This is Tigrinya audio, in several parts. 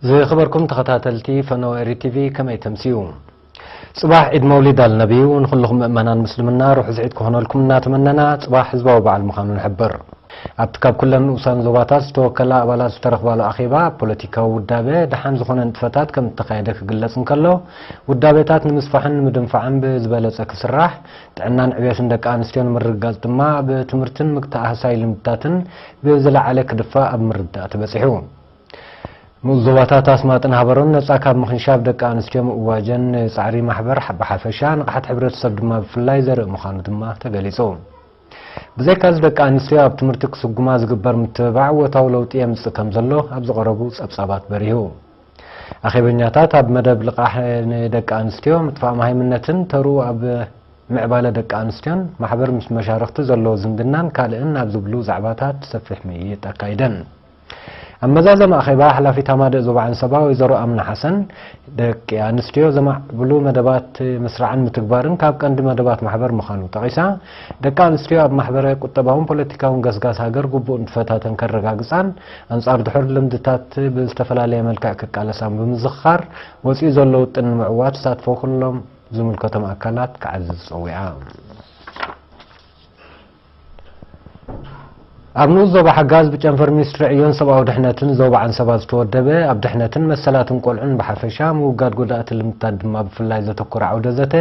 ዝኸበርኩም ተኸታተልቲ ፈነወ ኤሪ ቲቪ ከመይ ተምስዩ ጽባሕ ዒድ መውሊድ ኣልነቢዩ ንኹልኹም ምእመናን ምስልምና ርሑስ ዒድ ክኾነልኩም እናተመነና ጽባሕ ህዝባዊ በዓል ምዃኑ ንሕብር ኣብቲ ካብ ኩለን ንኡሳን ዞባታት ዝተወከላ ኣባላት ዝተረኽባሉ ኣኼባ ፖለቲካዊ ውዳበ ደሓን ዝኾነ ንጥፈታት ከም እተኻየደ ክግለጽ እንከሎ ውዳቤታት ንምስፋሕን ንምድንፋዕን ብዝበለጸ ክስራሕ ጥዕናን ዕብዮትን ደቂ ኣንስትዮ ንምርግጋፅ ድማ ብትምህርትን ምክትኣህሳይ ልምድታትን ብዝለዓለ ክድፋእ ኣብ ምርዳእ ተበፂሑ። ንኡስ ዞባታት ኣስማጥን ሃበሮን ነፃ ካብ ምኽንሻብ ደቂ ኣንስትዮ ምእዋጀን ንፃዕሪ ማሕበር ብሓፈሻ ንቕሓት ሕብረተሰብ ድማ ብፍላይ ዘርኢ ምዃኑ ድማ ተገሊፁ። ብዘይካዚ ደቂ ኣንስትዮ ኣብ ትምህርቲ ክስጉማ ዝግበር ምትብባዕ እወታዊ ለውጢ የምፅእ ከምዘሎ ኣብ ዝቐረቡ ፀብፃባት በሪሁ። ኣኼበኛታት ኣብ መደብ ልቓሕ ንደቂ ኣንስትዮ፣ ምጥፋእ መሃይምነትን ተርኡ ኣብ ምዕባለ ደቂ ኣንስትዮን፣ ማሕበር ምስ መሻርኽቲ ዘለዎ ዝምድናን ካልእን ኣብ ዝብሉ ዛዕባታት ሰፊሕ ምይይጥ ኣካይደን። ኣብ መዛዘሚ ኣኼባ ሓላፊት ኣማደእ ዞባ ዓንሰባ ወይዘሮ ኣምና ሓሰን፣ ደቂ ኣንስትዮ ዘማዕብሉ መደባት ምስራዕን ምትግባርን ካብ ቀንዲ መደባት ማሕበር ምዃኑ ጠቒሳ፣ ደቂ ኣንስትዮ ኣብ ማሕበረ ቁጠባውን ፖለቲካውን ገስጋስ ሃገር ግቡእ ንጥፈታተን ከረጋግፃን ኣንጻር ድሑር ልምድታት ብዝተፈላለየ መልክዕ ክቃለሳን ብምዝኽኻር፣ ወጺኡ ዘሎ ውጥን ንምዕዋት ተሳትፎ ኩሎም ዝምልከቶም ኣካላት ክዓዝዝ ጸዊዓ። ኣብ ንኡስ ዞባ ሓጋዝ ብጨንፈር ሚኒስትሪ ዕዮን ሰብኣዊ ድሕነትን ዞባ ዓንሰባ ዝተወደበ ኣብ ድሕነትን መሰላትን ቆልዑን ብሓፈሻ ምውጋድ ጎዳእቲ ልምድታት ድማ ብፍላይ ዘተኮረ ዓውደ ዘተ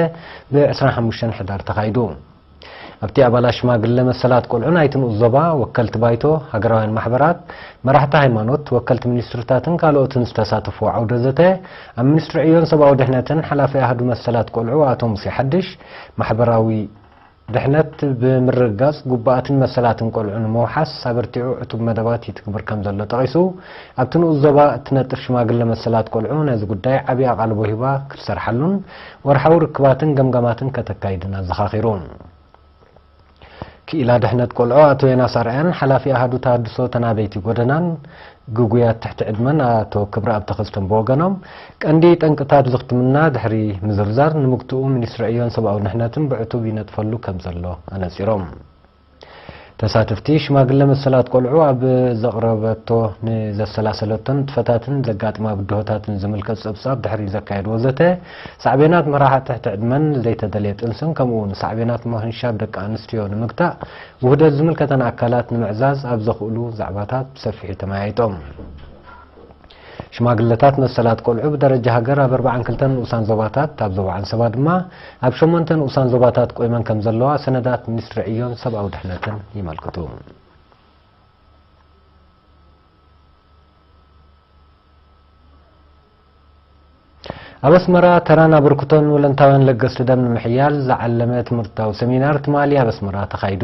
ብ25 ሕዳር ተኻይዱ። ኣብቲ ኣባላት ሽማግለ መሰላት ቆልዑ ናይቲ ንኡስ ዞባ፣ ወከልቲ ባይቶ፣ ሃገራውያን ማሕበራት፣ መራሕቲ ሃይማኖት፣ ወከልቲ ሚኒስትሪታትን ካልኦትን ዝተሳተፍዎ ዓውደ ዘተ፣ ኣብ ሚኒስትሪ ዕዮን ሰብኣዊ ድሕነትን ሓላፊ ኣሃዱ መሰላት ቆልዑ ኣቶ ሙሴ ሓድሽ፣ ማሕበራዊ። ድሕነት ብምርግጋጽ ጉቡኣትን መሰላትን ቆልዑ ንምውሓስ ኣበርቲዑ ዕቱብ መደባት ይትግብር ከምዘሎ ጠቒሱ፣ ኣብቲ ንኡስ ዞባ እትነጥፍ ሽማግለ መሰላት ቆልዑ ነዚ ጉዳይ ዓቢ ኣቓልቦ ሂባ ክትሰርሓሉን ወርሓዊ ርክባትን ገምጋማትን ከተካይድን ኣዘኻኺሩ። ክኢላ ድሕነት ቆልዑ ኣቶ ዮናስ ኣርኣያን ሓላፊ ኣሃዱ ተሃድሶ ተናበይቲ ጎደናን ግጉያት ትሕቲ ዕድመን ኣቶ ክብረኣብ ተኸስቶን ብወገኖም፣ ቀንዲ ጠንቅታት ዝኽትምና ድሕሪ ምዝርዛር፣ ንምግትኡ ሚኒስትሪ ዕዮን ሰብኣዊ ድሕነትን ብዕቱብ ይነጥፈሉ ከምዘሎ ኣነጺሮም። ተሳተፍቲ፣ ሽማግለ መሰላት ቆልዑ ኣብ ዘቕረበቶ ንዘሰላሰለቶን ንጥፈታትን ዘጋጥማ ብድሆታትን ዝምልከት ጸብጻብ ድሕሪ ዘካየድዎ ዘተ፣ ሳዕቤናት ምራሓ ትሕቲ ዕድመን ዘይተደልየ ጥንስን ከምኡ'ውን ሳዕቤናት ምኽንሻብ ደቂ ኣንስትዮ ንምግታእ ውህደት ዝምልከተን ኣካላት ንምዕዛዝ ኣብ ዘኽእሉ ዛዕባታት ብሰፊሑ ተመያይጦም። ሽማግለታት መሰላት ቆልዑ ብደረጃ ሃገር ኣብ ኣርብዓን ክልተን ንኡሳን ዞባታት፣ ኣብ ዞባ ዓንሰባ ድማ ኣብ ሸሞንተ ንኡሳን ዞባታት ቆይመን ከምዘለዋ ሰነዳት ሚኒስትሪ ዕዮን ሰብኣዊ ድሕነትን የመልክቱ። ኣብ ኣስመራ ተራን ኣበርክቶን ወለንታውያን ለገስቲ ደም ንምሕያል ዝዓለመ ትምህርታዊ ሰሚናር ትማሊ ኣብ ኣስመራ ተኻይዱ።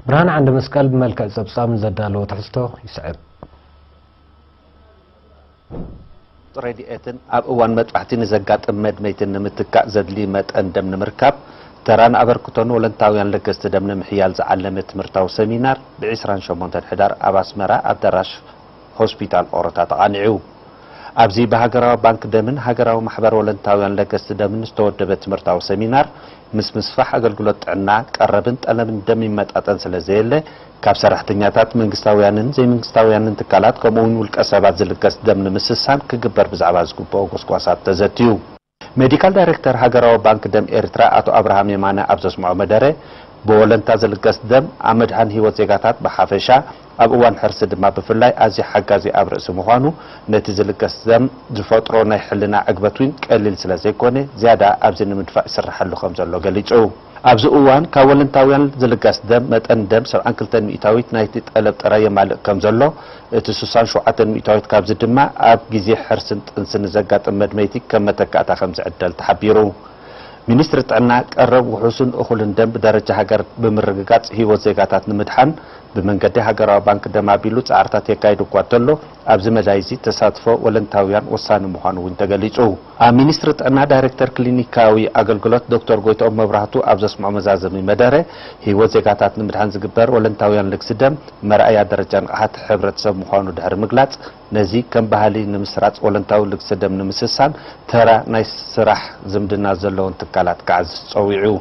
ብርሃን ዓንደ መስቀል ብመልክዕ ጸብጻብ ንዘዳለዎ ትሕዝቶ ይስዕብ። ረድኤትን ኣብ እዋን መጥባሕቲ ንዘጋጥም መድመይቲ ንምትካእ ዘድሊ መጠን ደም ንምርካብ ተራን ኣበርክቶን ወለንታውያን ለገስቲ ደም ንምሕያል ዝዓለመ ትምህርታዊ ሰሚናር ብ ዕስራን ሸሞንተን ሕዳር ኣብ ኣስመራ ኣዳራሽ ሆስፒታል ኦሮታ ተቓኒዑ። ኣብዚ ብሃገራዊ ባንክ ደምን ሃገራዊ ማሕበር ወለንታውያን ለገስቲ ደምን ዝተወደበ ትምህርታዊ ሰሚናር ምስ ምስፋሕ ኣገልግሎት ጥዕና ቀረብን ጠለብን ደም ይመጣጠን ስለዘየለ ካብ ሰራሕተኛታት መንግስታውያንን ዘይመንግስታውያንን ትካላት ከምኡ'ውን ውልቀ ሰባት ዝልገስ ደም ንምስሳን ክግበር ብዛዕባ ዝግበኦ ጎስጓሳት ተዘትዩ። ሜዲካል ዳይሬክተር ሃገራዊ ባንክ ደም ኤርትራ ኣቶ ኣብርሃም የማነ ኣብ ዘስምዖ መደረ፣ ብወለንታ ዝልገስ ደም ኣብ ምድሓን ህይወት ዜጋታት ብሓፈሻ ኣብ እዋን ሕርሲ ድማ ብፍላይ ኣዝዩ ሓጋዚ ኣብ ርእሲ ምዃኑ ነቲ ዝልገስ ደም ዝፈጥሮ ናይ ሕልና ዕግበት'ውን ቀሊል ስለዘይኮነ ዝያዳ ኣብዚ ንምድፋእ ይስርሓሉ ከምዘሎ ገሊጹ። ኣብዚ እዋን ካብ ወለንታውያን ዝልገስ ደም መጠን ደም ሰብዓን ክልተን ሚእታዊት ናይቲ ጠለብ ጥራይ የማልእ ከም ዘሎ፣ እቲ ስሳን ሸውዓተን ሚእታዊት ካብዚ ድማ ኣብ ግዜ ሕርስን ጥንስን ንዘጋጥም መድመይቲ ከም መተካእታ ከም ዝዕደል ተሓቢሩ። ሚኒስትሪ ጥዕና፣ ቀረብ ውሑስን እኹልን ደም ብደረጃ ሃገር ብምርግጋጽ ህይወት ዜጋታት ንምድሓን ብመንገዲ ሃገራዊ ባንክ ደም ኣቢሉ ጻዕርታት የካይድ እኳ እንተሎ፣ ኣብዚ መዳይ'ዚ ተሳትፎ ወለንታውያን ወሳኒ ምዃኑ እውን ተገሊጹ። ኣብ ሚኒስትሪ ጥዕና ዳይረክተር ክሊኒካዊ ኣገልግሎት ዶክተር ጎይትኦም መብራህቱ ኣብ ዘስምዖ መዛዘሚ መደረ፣ ህይወት ዜጋታት ንምድሓን ዝግበር ወለንታውያን ልግሲ ደም መርኣያ ደረጃ ንቕሓት ሕብረተሰብ ምዃኑ ድሕሪ ምግላጽ፣ ነዚ ከም ባህሊ ንምስራጽ ወለንታዊ ልግሲ ደም ንምስሳን ተራ ናይ ስራሕ ዝምድና ዘለወን ትካላት ክዓዝዝ ጸዊዑ።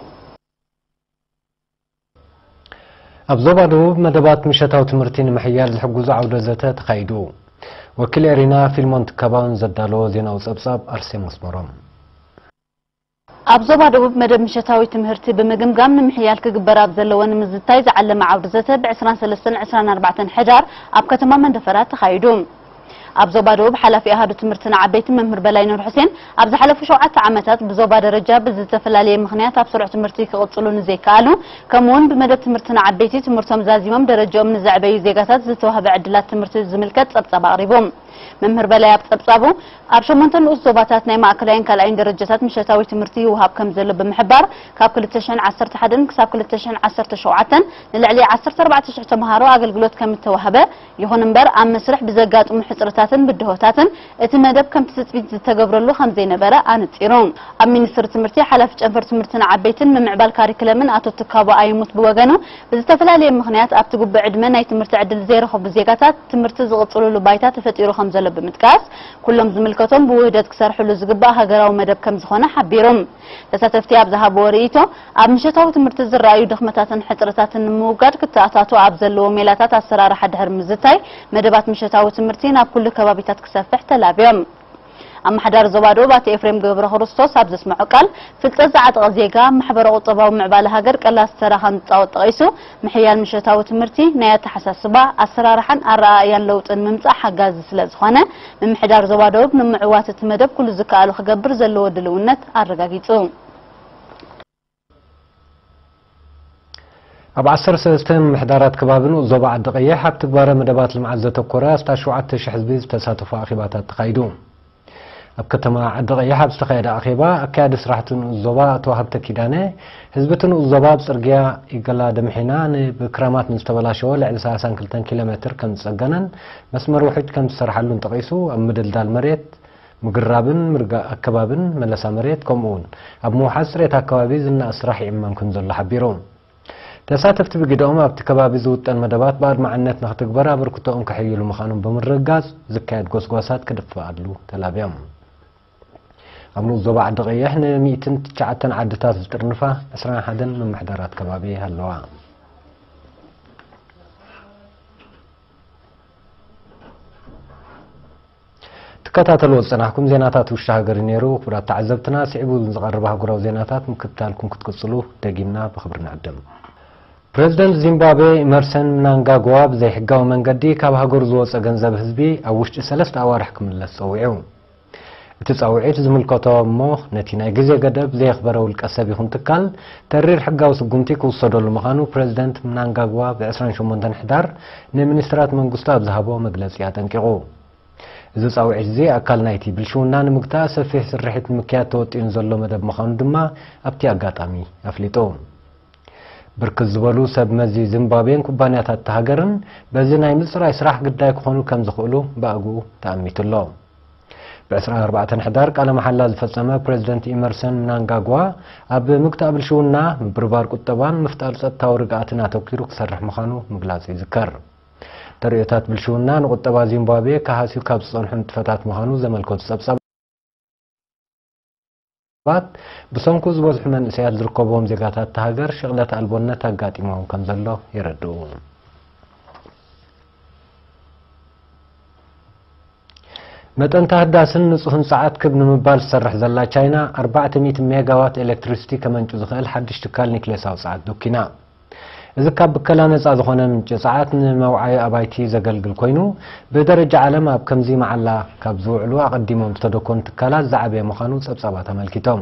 ኣብ ዞባ ደቡብ መደባት ምሸታዊ ትምህርቲ ንምሕያል ዝሕግዙ ዓውደ ዘተ ተኻይዱ። ወኪል ኤሪና ፊልሞን ትካባውን ዘዳለዎ ዜናዊ ጸብጻብ ኣርሴም ኣስመሮም ኣብ ዞባ ደቡብ መደብ ምሸታዊ ትምህርቲ ብምግምጋም ንምሕያል ክግበር ኣብ ዘለዎ ንምዝታይ ዝዓለመ ዓውዲ ዘተ ብ23ን 24 ሕዳር ኣብ ከተማ መንደፈራ ተኻይዱ። ኣብ ዞባ ደቡብ ሓላፊ ኣሃዱ ትምህርቲ ንዓበይቲ መምህር በላይ ኑርሑሴን፣ ኣብ ዝሓለፉ ሸውዓተ ዓመታት ብዞባ ደረጃ ብዝተፈላለየ ምኽንያት ኣብ ስሩዕ ትምህርቲ ክቕጽሉ ንዘይከኣሉ ከምኡ'ውን ብመደብ ትምህርቲ ንዓበይቲ ትምህርቶም ዛዚሞም ደረጃኦም ንዘዕበዩ ዜጋታት ዝተዋህበ ዕድላት ትምህርቲ ዝምልከት ጸብጻብ ኣቕሪቡ። መምህር በላይ ኣብ ጸብጻቡ፣ ኣብ ሸሞንተ ንኡስ ዞባታት ናይ ማእከላይን ካልኣይን ደረጃታት ምሸታዊ ትምህርቲ ይወሃብ ከምዘሎ ብምሕባር፣ ካብ ክልተ ሽሕን ዓሰርተ ሓደን ክሳብ ክልተ ሽሕን ዓሰርተ ሸውዓተን ንልዕሊ ዓሰርተ ኣርባዕተ ሽሕ ተመሃሮ ኣገልግሎት ከምእተዋህበ ይኹን እምበር ኣብ መስርሕ ብዘጋጥሙ ሕጽረታትን ብድሆታትን እቲ መደብ ከምቲ ትጽቢት ዝተገብረሉ ከምዘይነበረ ኣነጺሩ። ኣብ ሚኒስትሪ ትምህርቲ ሓላፊ ጨንፈር ትምህርቲ ንዓበይትን ምምዕባል ካሪክለምን ኣቶ ትካቦ ኣይሙት ብወገኑ ብዝተፈላለየ ምኽንያት ኣብቲ ጉብእ ዕድመ ናይ ትምህርቲ ዕድል ዘይረኸቡ ዜጋታት ትምህርቲ ዝቕጽሉሉ ባይታ ተፈጢሩ ከምዘሎ ብምጥቃስ ኩሎም ዝምልከቶም ብውህደት ክሰርሕሉ ዝግባእ ሃገራዊ መደብ ከምዝኾነ ሓቢሩ። ተሳተፍቲ ኣብ ዝሃብዎ ርእይቶ፣ ኣብ ምሸታዊ ትምህርቲ ዝረኣዩ ድኽመታትን ሕጽረታትን ንምውጋድ ክተኣታቶ ኣብ ዘለዎ ሜላታት ኣሰራርሓ ድሕሪ ምዝታይ፣ መደባት ምሸታዊ ትምህርቲ ናብ ኩሉ ከባቢታት ክሰፍሕ ተላብዮም። ኣማሓዳሪ ዞባ ደቡብ ኣቶ ኤፍሬም ገብረክርስቶስ ኣብ ዘስመዖ ቃል፣ ፍልጠት ዝዓጠቐ ዜጋ ኣብ ማሕበረ-ቁጠባዊ ምዕባለ ሃገር ቀላሲ ተራ ከምዝጻወት ጠቒሱ፣ ምሕያል ምሸታዊ ትምህርቲ ናይ ኣተሓሳስባ፣ ኣሰራርሓን ኣረኣእያን ለውጢ ንምምጻእ ሓጋዚ ስለ ዝኾነ፣ ምምሕዳር ዞባ ደቡብ ንምዕዋት እቲ መደብ ኩሉ ዝከኣሎ ክገብር ዘለዎ ድልውነት ኣረጋጊጹ። ኣብ ዓሰርተ ሰለስተ ምምሕዳራት ከባቢን ዞባ ዓዲ ቀይሕ ኣብ ትግባረ መደባት ልምዓት ዘተኮረ ኣስታት ሸውዓተ ሽሕ ህዝቢ ዝተሳተፎ ኣኼባታት ተኻይዱ። ኣብ ከተማ ዓዲቐይሕ ኣብ ዝተኻየደ ኣኼባ ኣካያዲ ስራሕ እቲ ንኡስ ዞባ ኣቶ ሃብተ ኪዳነ፣ ህዝቢ እቲ ንኡስ ዞባ ኣብ ጽርግያ ኢገላ ደምሒና ን ብክራማት ንዝተበላሸወ ልዕሊ ሰላሳን ክልተን ኪሎ ሜትር ከም ዝጸገነን መስመር ውሕጅ ከም ዝሰርሓሉን ጠቒሱ ኣብ ምድልዳል መሬት ምግራብን ምርጋእ ኣከባብን መለሳ መሬት ከምኡ'ውን ኣብ ምውሓስ ጽሬት ኣከባቢ ዝነኣድ ስራሕ ይዕመም ከምዘሎ ሓቢሩ። ተሳተፍቲ ብግደኦም፣ ኣብቲ ከባቢ ዝውጠን መደባት ብኣድማዕነት ንክትግበር ኣበርክቶኦም ከሐይሉ ምዃኖም ብምርግጋጽ፣ ዝካየድ ጎስጓሳት ክድፋኣሉ ተላብዮም። ኣብ ንኡስ ዞባ ዓዲ ቐይሕ ን ሚእትን ትሽዓተን ዓድታት ዝጥርንፋ ዕስራን ሓደን ምምሕዳራት ከባቢ ኣለዋ። ትከታተልዎ ዝጸናሕኩም ዜናታት ውሽጢ ሃገር እዩ ነይሩ። ክቡራት ተዓዘብትና፣ ስዒቡ ንዝቐርብ ኣህጉራዊ ዜናታት ምክትታልኩም ክትቅጽሉ ደጊምና ብኽብሪ ንዕድም። ፕረዚደንት ዚምባብዌ ኢመርሰን ምናንጋግዋ ብዘይሕጋዊ መንገዲ ካብ ሃገሩ ዝወጸ ገንዘብ ህዝቢ ኣብ ውሽጢ ሰለስተ ኣዋርሕ ክምለስ ጸዊዑ። እቲ ጻውዒት ዝምልከቶ እሞ ነቲ ናይ ግዜ ገደብ ዘየኽበረ ውልቀ ሰብ ይኹን ትካል ተሪር ሕጋዊ ስጉምቲ ክውሰደሉ ምዃኑ ፕረዚደንት ምናንጋግዋ ብ ዕስራን ሸሞንተን ሕዳር ንሚኒስትራት መንግስቱ ኣብ ዝሃቦ መግለጺ ኣጠንቂቑ። እዚ ጻውዒት'ዚ ኣካል ናይ'ቲ ብልሽውና ንምግታእ ሰፊሕ ስርሒት ንምክያድ ተወጢኑ ዘሎ መደብ ምዃኑ ድማ ኣብ'ቲ ኣጋጣሚ ኣፍሊጡ። ብርክት ዝበሉ ሰብ መዚ ዚምባብዌን ኩባንያታት'ታ ሃገርን በዚ ናይ ምጽራይ ስራሕ ግዳይ ክኾኑ ከምዝኽእሉ ብኣግኡ ተኣሚቱ'ሎ። ብ ዕስራን ኣርባዕተን ሕዳር ቃለ መሓላ ዝፈጸመ ፕረዚደንት ኢመርሰን ምናንጋግዋ፣ ኣብ ምግታእ ብልሽውና፣ ምብርባር ቁጠባን ምፍጣር ጸጥታዊ ርግኣትን ኣተኲሩ ክሰርሕ ምዃኑ ምግላጹ ይዝከር። ተርእዮታት ብልሽውና ንቁጠባ ዚምባብየ ክሃስዩ ካብ ዝጸንሑ ንጥፈታት ምዃኑ ዘመልከቱ ጸብጻባት፣ ሰባት ብሰንኩ ዝበዝሑ መንእሰያት ዝርከብዎም ዜጋታት እታ ሃገር ሽቕለት ኣልቦነት ኣጋጢሞም ከም ዘሎ የረድኡ። መጠን ታህዳስን ንጹህን ጸዓት ክብ ንምባል ዝሰርሕ ዘላ ቻይና ኣርባዕተ ሚእቲ ሜጋዋት ኤሌክትሪሲቲ ከመንጩ ዝኽእል ሓድሽ ትካል ኒክሌሳዊ ጸዓት ዶኪና። እዚ ካብ ብከላ ነጻ ዝኾነ ምንጪ ጸዓት ንመውዓዪ ኣባይቲ ዘገልግል ኮይኑ፣ ብደረጃ ዓለም ኣብ ከምዚ መዓላ ካብ ዝውዕሉ ኣቐዲሞም ዝተደኮኑ ትካላት ዝዓበየ ምዃኑ ጸብጻባት ኣመልኪቶም።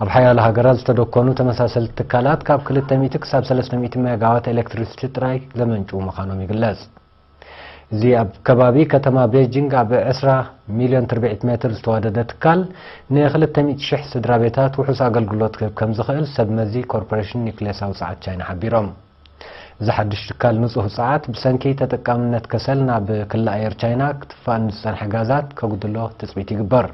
ኣብ ሓያሎ ሃገራት ዝተደኮኑ ተመሳሰልቲ ትካላት ካብ ክልተ ሚእቲ ክሳብ ሰለስተ ሚእቲ ሜጋዋት ኤሌክትሪሲቲ ጥራይ ዘመንጭዉ ምዃኖም ይግለጽ። እዚ ኣብ ከባቢ ከተማ ቤጂንግ ኣብ ዕስራ ሚልዮን ትርብዒት ሜትር ዝተዋደደ ትካል፣ ንክልተ ሚእቲ ሽሕ ስድራቤታት ውሑስ ኣገልግሎት ክህብ ከምዝኽእል ሰብመዚ ኮርፖሬሽን ኒዩክሌሳዊ ጸዓት ቻይና ሓቢሮም። እዚ ሓድሽ ትካል ንጹህ ጸዓት ብሰንኪ ተጠቃምነት ከሰል ናብ ክሊ ኣየር ቻይና ክትፋእ ንዝጸንሐ ጋዛት ከጉድሎ ትጽቢት ይግበር።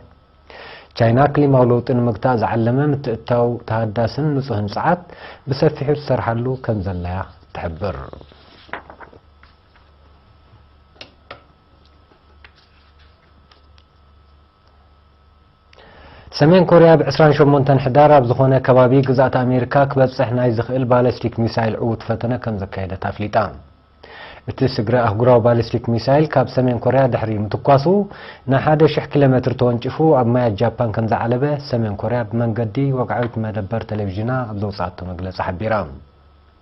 ቻይና ክሊማዊ ለውጢ ንምግታእ ዝዓለመ ምትእትታው ተሃዳስን ንጹህን ጸዓት ብሰፊሑ ትሰርሓሉ ከምዘላ'ያ ትሕብር። ሰሜን ኮርያ ብ ዕስራን ሸሞንተን ሕዳር ኣብ ዝኾነ ከባቢ ግዝኣት ኣሜሪካ ክበጽሕ ናይ ዝኽእል ባለስቲክ ሚሳይል ዕዉት ፈተነ ከም ዘካየደት ኣፍሊጣ። እቲ ስግረ ኣህጉራዊ ባሊስቲክ ሚሳይል ካብ ሰሜን ኮርያ ድሕሪ ምትኳሱ ንሓደ ሽሕ ኪሎ ሜትር ተወንጭፉ ኣብ ማያት ጃፓን ከም ዝዓለበ ሰሜን ኮርያ ብመንገዲ ወግዓዊት መደበር ቴሌቭዥና ኣብ ዘውፅኣቶ መግለፂ ሓቢራ።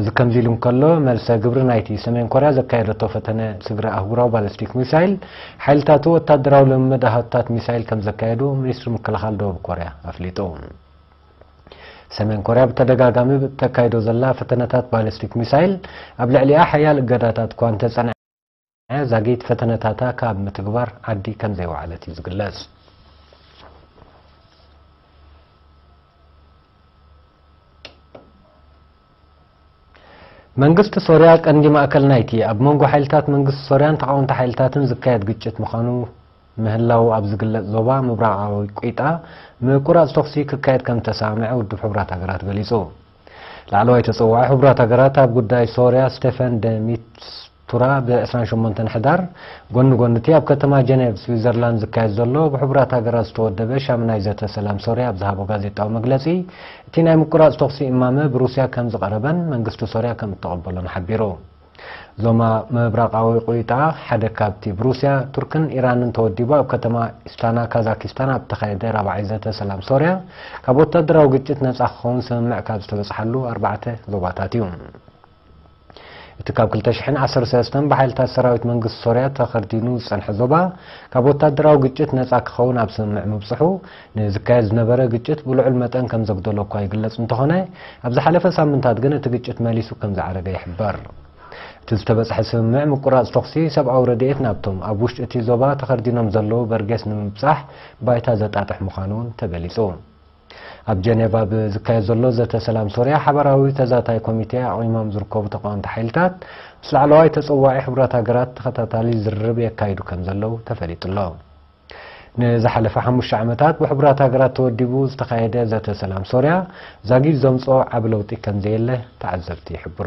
እዚ ከምዚ ኢሉ እንከሎ፣ መልሰ ግብሪ ናይቲ ሰሜን ኮርያ ዘካየደቶ ፈተነ ስግረ ኣህጉራዊ ባለስቲክ ሚሳይል፣ ሓይልታቱ ወታደራዊ ልምምድ ኣሃዱታት ሚሳይል ከም ዘካየዱ ሚኒስትሪ ምክልኻል ደቡብ ኮርያ ኣፍሊጡ። ሰሜን ኮርያ ብተደጋጋሚ እተካይዶ ዘላ ፈተነታት ባለስቲክ ሚሳይል ኣብ ልዕሊኣ ሓያል እገዳታት እኳ እንተጸንዐ፣ ዛጊት ፈተነታታ ካብ ምትግባር ዓዲ ከምዘይወዓለት እዩ ዝግለጽ። መንግስቲ ሶርያ ቀንዲ ማእከል ናይቲ ኣብ መንጎ ሓይልታት መንግስቲ ሶርያን ተቓወምቲ ሓይልታትን ዝካየድ ግጭት ምዃኑ ምህላው ኣብ ዝግለጽ ዞባ ምብራቓዊ ቊጣ ምቁራጽ ተኹሲ ክካየድ ከም ዝተሰማምዐ ውድብ ሕቡራት ሃገራት ገሊጹ። ላዕለዋይ ተጸዋዒ ሕቡራት ሃገራት ኣብ ጉዳይ ሶርያ ስቴፈን ደ ሚስቱራ ብ ዕስራን ሸሞንተን ሕዳር ጎኒ ጎኒ'ቲ ኣብ ከተማ ጀኔቭ ስዊዘርላንድ ዝካየድ ዘሎ ብሕቡራት ሃገራት ዝተወደበ ሻምናይ ዘተ ሰላም ሶርያ ኣብ ዝሃቦ ጋዜጣዊ መግለጺ እቲ ናይ ምቁራጽ ተኹሲ እማመ ብሩስያ ከምዝቐረበን መንግስቲ ሶርያ ከምእተቐበሎን ሓቢሩ። ዞማ ምብራቓዊ ቁይጣ ሓደ ካብቲ ብሩስያ፣ ቱርክን ኢራንን ተወዲቡ ኣብ ከተማ ኢስታና ካዛኪስታን ኣብ እተኻየደ ራብዓይ ዘተ ሰላም ሶርያ ካብ ወታደራዊ ግጭት ነጻ ክኸውን ስምምዕ ካብ ዝተበጽሓሉ ኣርባዕተ ዞባታት እዩ። እቲ ካብ ክልተ ሽሕን ዓሰርተ ሰለስተን ብሓይልታት ሰራዊት መንግስቲ ሶርያ ተኸርዲኑ ዝጸንሐ ዞባ ካብ ወታደራዊ ግጭት ነጻ ክኸውን ኣብ ስምምዕ ምብጽሑ ንዝካየድ ዝነበረ ግጭት ብልዑል መጠን ከም ዘጉደሎ እኳ ይግለጽ እንተኾነ፣ ኣብ ዝሓለፈ ሳምንታት ግን እቲ ግጭት መሊሱ ከም ዝዓረገ ይሕበር። እቲ ዝተበጽሐ ስምምዕ ምቁራጽ ተኹሲ፣ ሰብኣዊ ረድኤት ናብቶም ኣብ ውሽጢ እቲ ዞባ ተኸርዲኖም ዘለዉ በርጌስ ንምብጻሕ ባይታ ዘጣጥሕ ምዃኑ እውን ተገሊጹ። ኣብ ጀኔቫ ብዝካየድ ዘሎ ዘተ ሰላም ሶርያ ሓባራዊ ተዛታይ ኮሚቴ ኣቚሞም ዝርከቡ ተቓወምቲ ሓይልታት ምስ ላዕለዋይ ተጸዋዒ ሕቡራት ሃገራት ተኸታታሊ ዝርርብ የካይዱ ከም ዘለዉ ተፈሊጡ ኣሎ። ንዝሓለፈ ሓሙሽተ ዓመታት ብሕቡራት ሃገራት ተወዲቡ ዝተኻየደ ዘተ ሰላም ሶርያ ዛጊድ ዘምጽኦ ዓቢ ለውጢ ከምዘየለ ተዓዘብቲ ይሕብሩ።